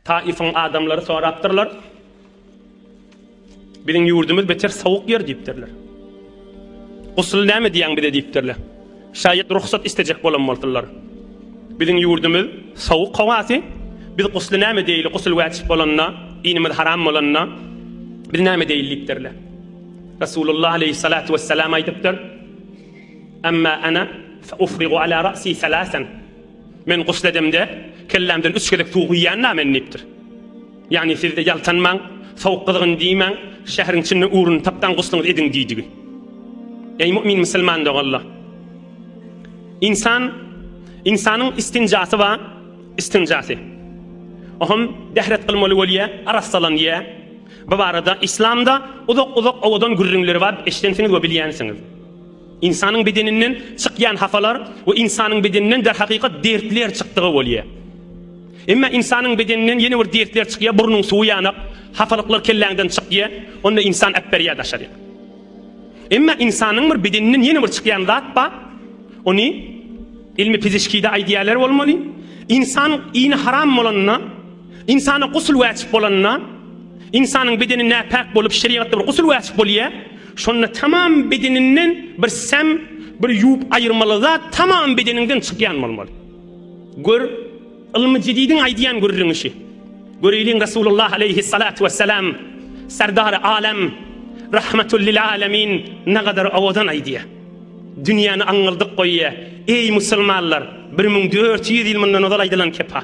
Taýyfyň adamlary sorapdyrlar. Biziň ýurdumyz beter sowuk ýer diýipdirler. Gusly näme edýäň bize diýipdirler. Şaýat rugsat istejek bolan bolsunlar. Biziň ýurdumyz sowuk howasy. Biz gusly näme edýeli gusul wäjip bolanda, dinimiz haram bolanda biz näme edýeli diýipdirler. Resulullah aleýhissalatu wessalam aýdypdyr. Amma ana fa ufrigu ala ra'si salasan. Men gusl edemde, kellämden üç gezek suw guýýan-la men diýipdir. Ýagny siz-de ýaltanmaň, sowuk gyzgyn diýmäň, şäheriň içinde ugruny tapsaň gusluňyzy ediň diýdigi. Eý mu'min musulman doganlar! Ynsan, ynsanyň istinjasy bar, istinjasy. O hem dehret kylmaly bolýar, arassalanýar. Bu barada Islamda uzak-uzak owadan gürrüňleri bar, eşidensiňiz we bilýänsiňiz. Ynsanyň bedeninden çykýan hapalar we ynsanyň bedeninden derhakykat dertler çykdygy bolýar. Emma ynsanyň bedeninden ýene bir dertler çykýar, burnuň suwy ýanak, hapalyklar kelläňden çykýar, onda ynsan äpberýär daşaryk. Emma ynsanyň bir bedeninden ýene bir çykýan zat bar, ony ilmi pizişkide aýdýarlar bolmaly, ynsan iýni haram bolanda, Ynsana gusl wäcip bolanda, ynsanyň bedeni näpäk bolup, şerigatda bir gusl wäcip bolýar. Şonda tamam bedeninden bir säm, bir ýuwup aýyrmaly zat tamam bedeniňden çykýan bolmaly. Gör, ylmy jedidiň aýdýan gürrüň işi. Göreýliň Resulullah aleýhissalatu wessalam Serdary alem, Rahmatul lil alemin nagadar owadan aýdýar. Dünýäni aňňyldyk goýýar. Eý musulmanlar, bir müň dört ýüz ýyl mundan ozal aýdylan kepa.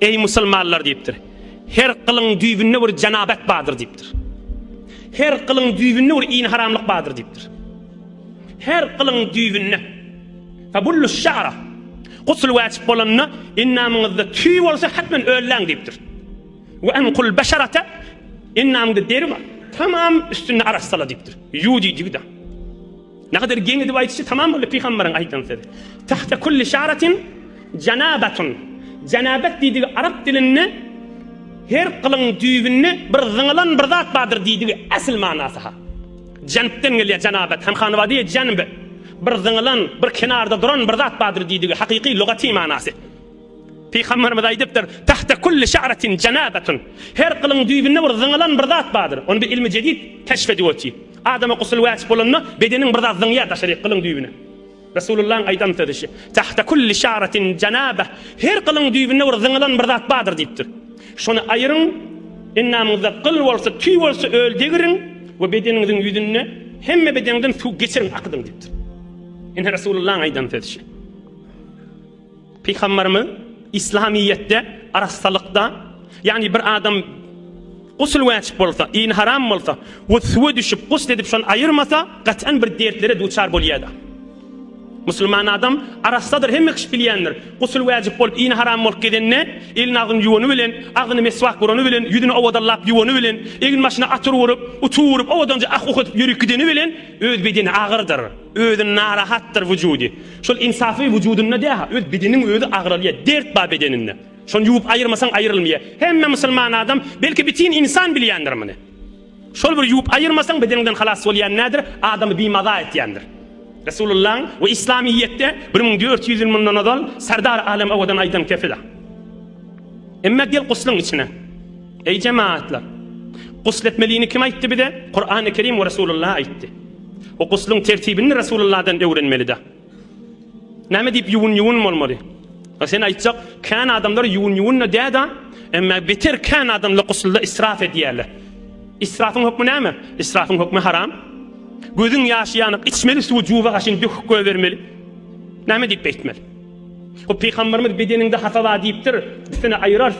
Eý, musulmanlar! diýipdir. Her gylyň düýbünde bir jenabat bardyr diýipdir. Her gylyň düýbünde bir ini haramlyk bardyr diýipdir. Her gylyň düýbünde Fabullu şara. Gusl wajyp bolanda endamyňyzda tüý bolsa hatmen ölläň diýipdir. Ve enkul beşarata endamyňda deri bar. Tamam üstünde arassala diýipdir. Ýudi diýdi. Nähedar geň edip aýdyşy tamam boldy pygambaryň aýdan sözi. Tahta kulli şaratin janabatun. Janabat diýdigi arap dilinde her gylyň düýbünde bir zyňylan bir zat bardyr diýdigi esl manasy ha. Janbden gelýär janabat hem hanwadi janb. Bir zyňylan, bir kenarda duran bir zat bardyr diýdigi hakyky lugaty manasy. Pygamberimiz aýdypdyr, Tahta kulli şa'ratin janabetun, Her gylyň düýbünde bir zyňylan bir zat bardyr. Ony biz ilmi jedid keşf edip otyrys. Adama gusl wajyp bolanda bedeniň bir zat zyňýar daşaryk gylyň düýbüne. Resulullahyň aýdan sözi şu, Tahta kulli şa'ratin janabeh, Her gylyň düýbünde bir zyňylan bir zat bardyr diýipdir. Şony aýyryň, endamyňyzda gyl bolsa, tüý bolsa öl degiriň we bedeniňiziň ýüzünde hemme bedeňden suw geçiriň, akydyň diýipdir. Ine Resulullahyň aýdan sözi şu. Pygamberimiz Islamiyetde arassalykda, ýagny bir adam gusl wajyp bolsa, iýn haram bolsa we suwa düşüp gusl edip şony aýyrmasa, gat'an bir dertlere duçar bolýardy. Musulman adam arassadyr, hemme kişi bilýändir. Gusl wajyp bolup, iýn haram bolup gezende, elini agzyny ýuwany bilen, agzyny meswak urany bilen, ýüzüni owadanlap ýuwany bilen, egin başyna atyr urup, utuw urup, owadanja ah-uh edip ýörüp gideni bilen öz bedeni agyrdyr, özi narahatdyr wujudy. Şol insafy wujudynda däha öz bedeniň özi agralýa dert bar bedeninde. Şony ýuwup aýyrmasaň aýyrylmýa. Hemme musulman adam belki bitin insan bilýändir muny. Şol bir ýuwup aýyrmasaň bedeniňden halas bolýan nädir adamy bimaza etýändir. Resulullaň we islamyýetde bir müň dört ýüz ýyl mundan ozal Serdar Alem Awadan aýdan kepil. Emme gel guslyň içine. Eý jemaatlar. Gusl etmelini kim aýtdy bize? Kurany Kerim we Resulullah aýtdy. Bu guslyň tertibini Resulullahdan öwrenmelida. Näme diýip ýuwun-ýuwun bolmaly? A sen aýtjak, kän adamlar ýuwun-ýuwun-da däda, emma beter kän adamlar guslda israf edýärler. Israfyň hökmi näme? Israfyň hökmi haram. Gözüň ýaşy ýanyk içmeli suwy juba haşin döküp goýbermeli. Näme diýip beýtmeli? Bu pygamberimiz bedeniňde hasa bar diýipdir. Üstüne aýyrar.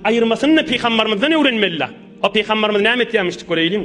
Aýyrmasyny-da pygambermizden öwrenmelida. O pygamberimiz näme etýärmişdik göreýliň.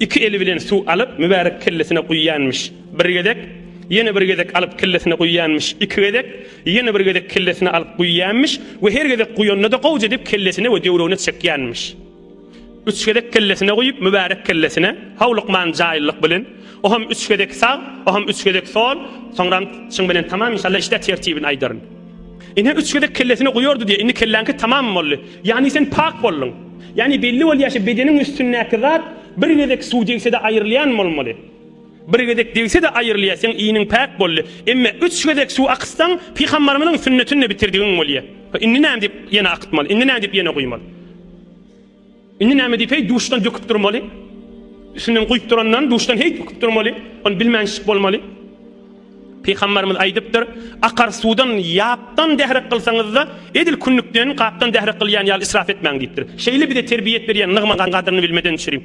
Iki eli bilen suw alyp, mübärek kellesine guýýanmyş. Bir gezek, ýene bir gezek alyp kellesine guýýanmyş. Iki gezek, ýene bir gezek kellesine alyp guýýanmyş we her gezek guýanda-da gowja edip kellesine we döwregine çekýänmiş. Üç gezek kellesine guýup, mübärek kellesine, howlukman, jaýyllyk bilen, o hem üç gezek sag, o hem üç gezek sol, soňram çyň bilen tamam, inşallah, işdä tertibini aýdaryn. Ine üç gezek kellesini guýardy diýe, indi kelläňki tamam boldy. Ýagny sen pak bolduň. Ýagny belli bolýaşa bedeniň üstündäki zat bir gezek suw degsede aýrylýan bolmaly. Bir gezek degsede aýrylýa seň iniň pak boldy. Emme üç gezek suw akytsaň pygambarymyzyň sünnetinde bitirdigiň bolýa. Indi näme diýip ýene akytmaly? Indi näme diýip ýene guýmaly? Indi näme diýip heý duşdan döküp durmaly? Üstünden guýup durandan duşdan heý döküp durmaly? Ony bilmänçlik bolmaly. Pygamberimiz aýdypdyr, Akar suwdan ýapdan dährek kylsaňyzda, edil künnükden gapdan dährek kylýan ýaly israf etmäň diýipdir. Şeýle bize terbiýet berýän nygmatyň gadyryny bilmeden çürim.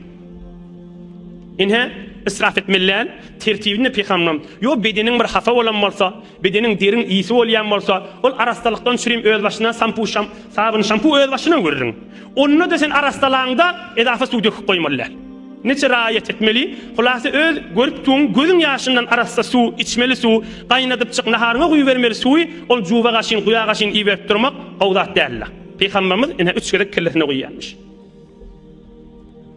Ine, israf etmeli däl, tertibini pygamberimiz, Ýo bedeniň bir hapa bolan bolsa, Bedeniň deriň ýyýsi bolýan bolsa, ol arassalykdan çürim öz başyna, sampu, sabyn, şampu öz başyna gürrüň. Onda-da sen arassalaňda edafa suw döküp goýmaly däl. Neçe raýat etmeli? Hulasa öz görüpdigiň gözüň ýaşyndan arassa suw, içmeli suw, gaýnadypjyk naharyňa guýubermeli suwy ol juba gaşyn, guýa gaşyn iýiberip durmak gowy zat däl-la. Pygamberimiz ine üç gezek kellesine guýýarmyş.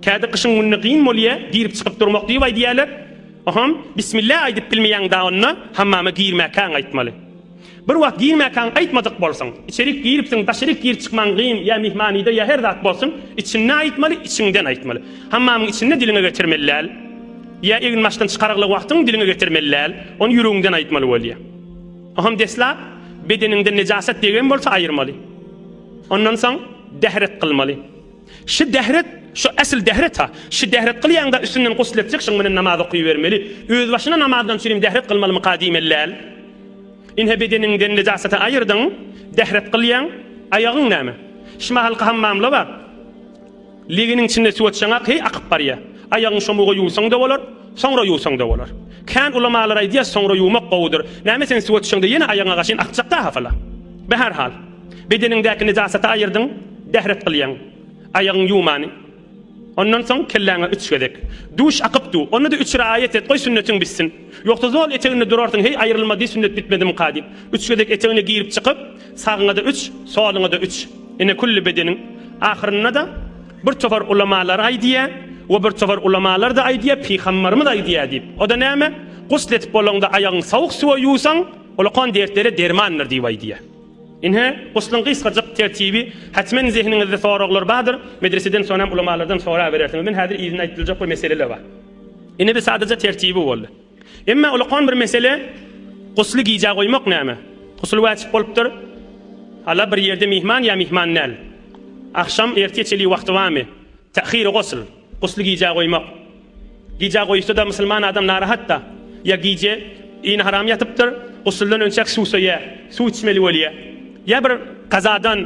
Käte gyşyň gününe gyn bolýa girip çykyp durmak diýip aýdýaler. Oham, bismillah aýdyp bilmeýäň da onda hammama girmäkäň aýtmaly. Bir wagt girmäkäň aýtmadyk bolsaň, içerik giripsiň daşaryk girip çykmaň gyn ýa myhmanyda ýa her zat bolsun, içinde aýtmaly, içiňden aýtmaly. Hammamyň içinde diliňe getirmeli däl. Ýa egin başdan çykarykly wagtyň diliňe getirmeli däl. Ony ýüregiňden aýtmaly bolýa. Oham deslap bedeniňden nejasat degen bolsa aýyrmaly. Ondan soň dehret kylmaly. Şy dehret, şu esl dehret-a. Şy dehret kylýaňda üstünden gusl etjek şyň bilen namaz okybermeli. Özbaşyna namazdan çirim dehret kylmalymyka diýmeli däl. Inhe bedeniňden nejasaty aýyrdyň, dehret kylýaň, aýagyň näme? Şy mahalky hammamla bar. Leginiň içinde suw atsaňa heý akyp barýa. Aýagyň şomuga ýuwsaň-da bolar, soňra ýuwsaň-da bolar. Kän ulamalar aýdýa soňra ýuwmak gowudyr. Näme sen suw atsaňda ýene aýagyňa gaşyn akjak-da hafala. Be her hal. Bedeniňdäki nejasaty aýyrdyň, dähret gylýaň. Aýagyň ýumany. Ondan soň kelläňe üç gezek. Duş akyp du. Onda-da üç raýat et, goý sünnetiň bitsin. Ýogsa zol eteginde durarsyň, heý aýrylma diý sünnet bitmedimika diýip. Üç gezek etegine girip çykyp, sagyňa-da üç, soluňa-da üç. Ine külli bedeniň. Ahyrynda-da bir topar ulamalar aýdýa, we bir topar ulamalar-da aýdýa, pygambarymyz aýdýa diýip. O-da näme? Gusl etip bolaňda aýagyň sowuk suwa ýuwsaň, ol okan dertlere dermandyr diýip aýdýa. Ine, gusluň gysgajyk tertibi, Hatmen zehniňizde soraglar bardyr, medreseden soňam ulamalardan soraberersiňiz. Men häzir yzyna aýdyljak bir meseleler bar. Ine bi sadaja tertibi boldy. Emma ulakan bir mesele, gusly gijä goýmak näme? Gusul wajyp bolupdyr. Hala bir ýerde myhman ýa myhman däl? Agşam ertiýe çenli wagty barmy? Ta'hiri gusl. Gusly gijä goýmak. Gijä goýuşda-da musulman adam narahat-da. Ýa gije yny haram ýatypdyr, gusuldan önçäk suw söýýär, suw içmeli bolýar. Ýa bir kazadan,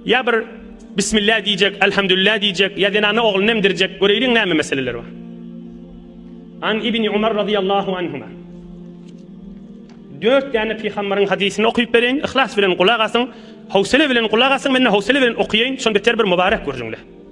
ýa bir Bismillah diýjek, Elhamdülillah diýjek, ýa zenana ogluny emdirjek, göreýliň näme meseleler bar. An Ibni Umar razyýallahu anhuma. Dört däne pygamberiň hadysyny okyp bereýin, yhlas bilen gulak asyň, howsele bilen gulak asyň, men-de howsele bilen okaýaýyn, şonda ter bir mubarek görjüňler.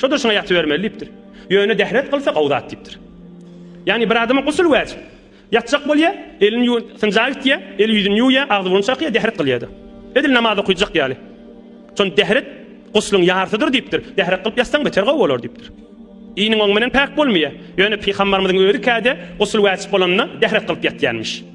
Şo-da şuňa ýatybermeli diýipdir. Ýöne dehret kylsa gowy zat diýipdir. Ýagny bir adama gusl wajyp. Ýatjak bolýa, elini ýuwup, synja gitýä, el-ýüzüni ýuwýa, agzy-burnuny çakýa, dehret kylýa-da. Edil namaz okyjak ýaly. Şonda dehret guslyň ýarsydyr diýipdir. Dehret kylyp ýatsaň beter gowy bolar diýipdir. Iniň oň bilen päk bolmaýa. Ýöne Pygambarymyzyň özi käde gusl wajyp bolanda dehret kylyp ýatýanmyş.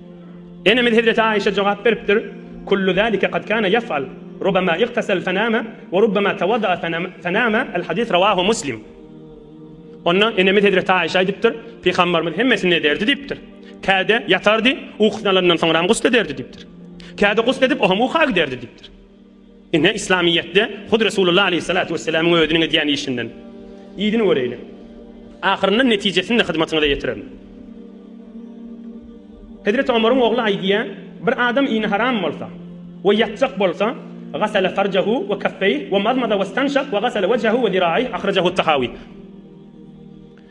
Enemiz hezreti Aişe jogap beripdir, Kullu zalike kad kana yef'al, rubama igtasal fanama, we rubama tawada'a fanama, al hadis rawahu Muslim. Onda enemiz hezreti Aişe aýdypdyr, Pygambarymyz hemmesini ederdi diýipdir. Käde ýatardy, ukusyny alandan soňram gusl ederdi diýipdir. Käde gusl edip, oňam uka giderdi diýipdir. Ine, Yslamyýetde hut Resulullah aleýhissalatu wesselamyň özüniň edýän işinden yzyny göreýli. Ahyrynda netijesini-de hyzmatyňyza ýetirerin. Hezreti Omaryň ogly aýdýar, Bir adam ini haram bolsa we ýatjak bolsa, Gasala farjahu we kaffeyh we mazmaza westanşak we gasala wejhehu we ziraih, Ahrajahut-Tahawi.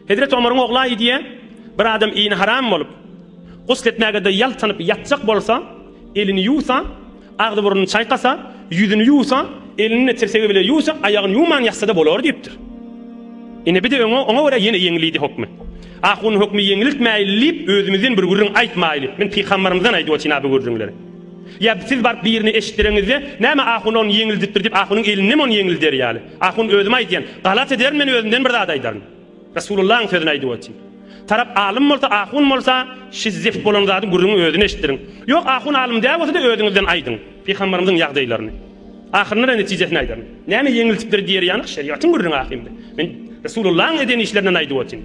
Hezreti Omaryň oglaýy diýýär, Bir adam ini haram bolup, gusl etmäge-de ýaltanyp ýatjak bolsa, elini ýuwsa, agzy-burnuny çaýkasa, ýüzüni ýuwsa, elini-de tirsegi bile ýuwsa, aýagyny ýuwman ýatsa-da bolar diýipdir. Ine, bir-de öň oňa görä ýene ýeňilidi hökmi. Ahunyň hökmi ýeňiltmäýli diýip, özümizden bir gürrüň aýtmaýly. Men pykambarymyzdan aýdyp otyryn-a bu gürrüňleri. Ýa siz baryp birine eşitdireňizde, Näme ahun ony ýeňildipdir diýip, ahunyň elindem ony ýeňilder ýaly. Ahun özüm aýdýan, galat ederin men özümden bir zat aýdaryn. Resulullahyň sözüni aýdyp otyryn. Tarap alym bolsa, ahun bolsa, şi zift bolan zady gürrüňi özüne eşitdiriň. Ýok, ahun alym däl bolsa-da özüňizden aýdyň, pygambarymyzyň ýagdaýlaryny. Ahyrynda-da netijesini aýdaryn. Näme ýeňiltipdir diýer ýaňyk şerigatyň gürrüňi ahyrynda. Men Resulullahyň eden işlerinden aýdyp otyryn.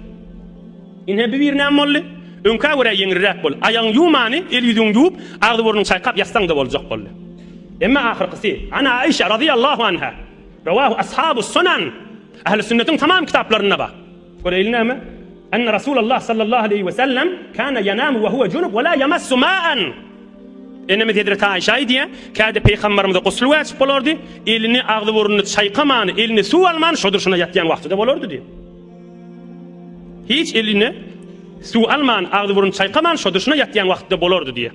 Ine bu bir näme boldy? Öňkä görä ýeňilräk boldy. Aýagyňy ýuwmany, el-ýüzüňi ýuwup, agzy-burnuňy çaýkap ýatsaň-da boljak boldy. Emma ahyrkysy, An Aişa razyýallahu anha, Rawahu ashabus sunan. Ähli sünnetiň tamam kitaplarynda bar. Göreýli näme? Enne Rasulallah sallallahu aleýhi we sellem kana yanamu we huwa junup we la yamassu ma'an. Enemiz Hezreti Aişe aýdýar, käde Peýgamberimize gusl wajyp bolardy, elini, agzy-burnuny çaýkaman, eline suw alman şo durşuna ýatýan wagtyda bolardy diýip. Hiç eline suw alman, agzy-burnuny çaýkaman şo durşuna ýatýan wagtyda bolardy diýýär.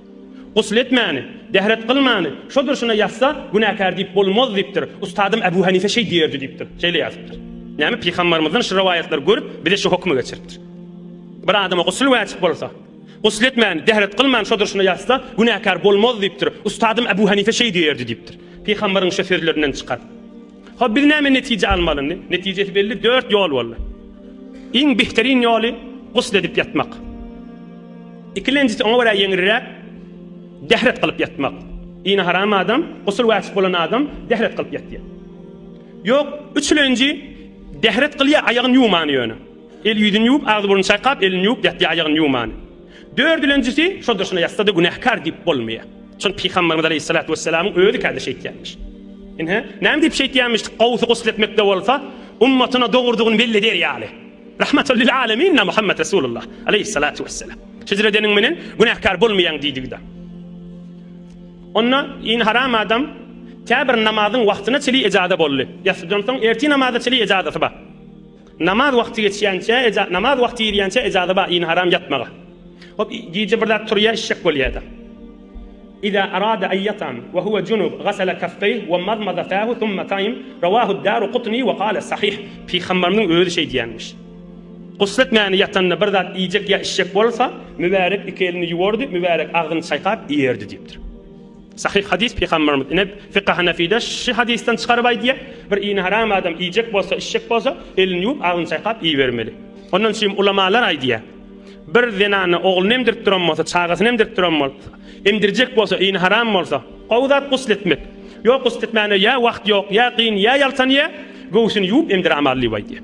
Gusl etmäni, dehret kylmany şo durşuna ýatsa, günäkär diýip bolmaz diýipdir. Ustadym Äbu Hanife şeý diýerdi diýipdir. Şeýle ýazypdyr. Näme pygambarymyzdan şu rowaýatlary görüp bize şu hokmy geçiripdir. Bir adama gusl wajyp bolsa, gusl etmäni, dehret kylmany şo durşuna ýatsa, günäkär bolmaz diýipdir. Ustadym Äbu Hanife şeý diýerdi diýipdir. Pygambaryň şo sözlerinden çykar. Hop biz näme netije almaly indi? Netijesi belli, dört ýol boldy. Iň behterin ýoly gusl edip ýatmak. Ikilenjisi oňa görä ýeňilräk dehret kylyp ýatmak. Dini haram adam, gusl wajyp bolan adam dehret kylyp ýatýar. Ýok, üçlenji dehret kylýar, aýagyny ýuwman ýöne. El ýüzüni ýuwup, agzy burnuny çaýkap, elini ýuwup ýatýar, aýagyny ýuwman. Dördülenjisi, şoldur şuna ýatsa-da günäkär diýip bolmaýar. Şony Pygamberimiz aleýhissalatu wesselamyň özi kädi şeýtýärmiş. Ine, näme diýip şeýtýärmiş? Gawsy gusl etmekde bolsa, ummatyna dogrudygyny belli eder ýaly. Rahmatal lil alemin-na Muhammet Resulullah aleýhissalatu wesselam. Şeýdip edeniň menen günäkär bolmaýaň diýdigi-de. Onda ýene haram adam käbir namazyň wagtyna çenli ejaza boldy. Ýatsydan soň ertir namaza çenli ejazasy bar. Namaz wagty geçýänçä eja namaz wagty girýänçä ejaza bar ini haram ýatmaga. Hop gije bir zat turýa işjek bolýada. Iza arada an yatam wa huwa junub gasala kaffeyh wa madmada fahu thumma qaim rawahu ad-Daruqutni wa qala sahih. Pygambarymyň özi şeý diýenmiş. Gusl etmäni ýatanda bir zat iýjek ýa içjek bolsa, mübärek iki elini ýuwardy, mübärek agzyny çaýkap iýerdi diýipdir. Sahyh hadys Pygamberimiz ine Fika Hanefide şi hadysdan çykaryp aýdýar, bir ini haram adam iýjek bolsa, içjek bolsa, elini ýuwup, agzyny çaýkap iýibermeli. Ondan üçin ulamalar aýdýar, Bir zenana ogluny emdirip duran bolsa, çagasyny emdirip duran bolsa, emdirjek bolsa, ini haram bolsa, gowy zat gusl etmek. Ýok gusl etmäne ýa wagt ýok, ýa kyn, ýa ýaltanýa, göwsüni ýuwup emdiramazlyb aýdýar.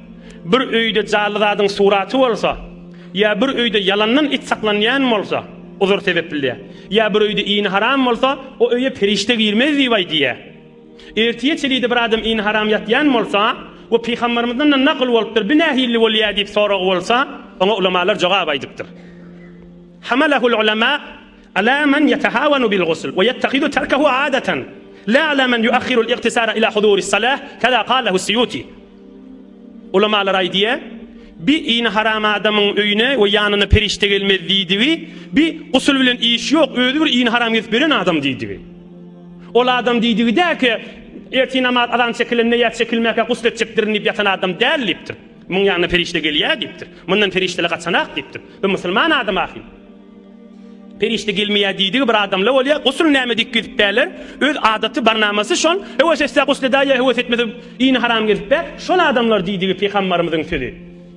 Bir öýde jaly zadyň suraty bolsa, ýa bir öýde ýalandan it saklanýan bolsa, uzur sebepli-dä. Ýa bir öýde iýni haram bolsa, o öýe perişde girmez diýip aýdýar. Ertire çelide bir adam iýni haram ýatýan bolsa we pygambarymyzdan-da nakyl bolupdyr, bi nähili bolýar diýip soragy bolsa, oňa ulamalar jogap aýdypdyr. Hamalahul ulema, Alâ men ýetehâwenu bil-gusl we ýettehizu terkehu âdeten, lâ alâ men ýuahhirul igtisâle ilâ huzûris salâh, kezâ kâl lehu's-Siyûtî. Ulamalar aýdýar, Bi ini haram adamyň öýüne we ýanyna perişde gelmez diýdigi, bi gusl bilen işi ýok, özi bir ini haram gezip ýören adam diýdigi. Ol adam diýdigi däki, Ertir namaz azan çekilende ýa çekilmäkä gusl etjekdirin diýip ýatan adam däl diýipdir. Muň ýanyna perişde gelýär diýipdir. Mundan perişdeler gaçanak diýipdir. Bi musulman adam ahyryn. Perişde gelmeýär diýdigi bir adamla bolýar. Gusul näme diýip gezipdärler. Öz adaty barnamasy şol. Höwes etse gusl edär ýa höwes etmese ini haram gezip bär. Şol adamlar diýdigi pygambarymyzyň sözi.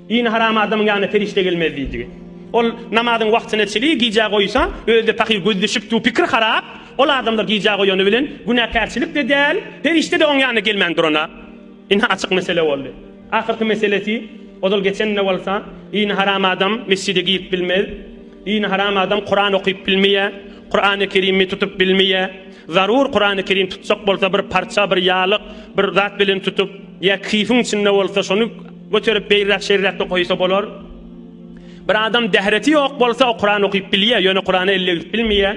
Ini haram adamyň ýanyna perişde gelmez diýdigi. Ol namazyň wagtyna çili gijä goýsa özde pahyr göz düşüp dur pikir harap. Ol adamlar gijä goýany bilen günäkärçilik-de däl, perişde-de oň ýanyna gelmän durana. Ine açyk mesele boldy. Ahyrky meselesi, ozal geçen-de bolsa, dini haram adam mesjide girip bilmez, dini haram adam Kuran okyp bilmeýär, Kurany Kerimi tutup bilmeýär, zarur Kurany Kerim tutjak bolsa bir parça, bir ýalyk, bir zat bilen tutup, ýa kifiň içinde bolsa şony göterip beýräk-şeýräkde goýsa bolar. Bir adam dähreti ýok bolsa o Kuran okyp bilýär, ýöne Kurana ellegip bilmeýär.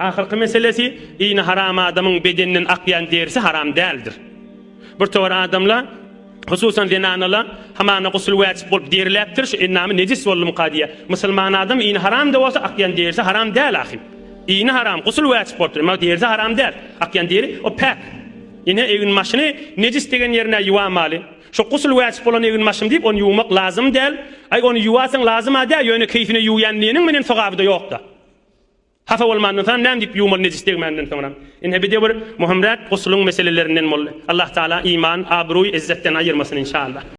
Ahyrky meselesi, ini haram adamyň bedeninden akýan derisi haram däldir. Bir towar adamla, hususan zenanala, hamana gusl wäjip bolup deriläpdir, şu endamy nejis boldumyka diýýär. Musulman adam ini haram-da bolsa, akýan derisi haram däl ahym. Ini haram, gusl wäjip bolupdyr, emma derisi haram däl. Akýan deri, o päk. Ine, eginbaşyny nejis degen ýerine ýuwamaly. Şu gusl wäjip bolan eginbaşym diýip, ony ýuwmak lazym däl. Aý, ony ýuwasaň lazym-a däl, ýöne keýpine ýuwýan diýeniň menen sogaby-da ýok-da. Hapa bolman ynsan näme diýip ýuwmaly nejis degmäninden soňra. Ine bide bir möhümräk gusulyň meselelerinden boldy. Allahtagala iman, abruý, izzetden aýyrmasyn inşallah.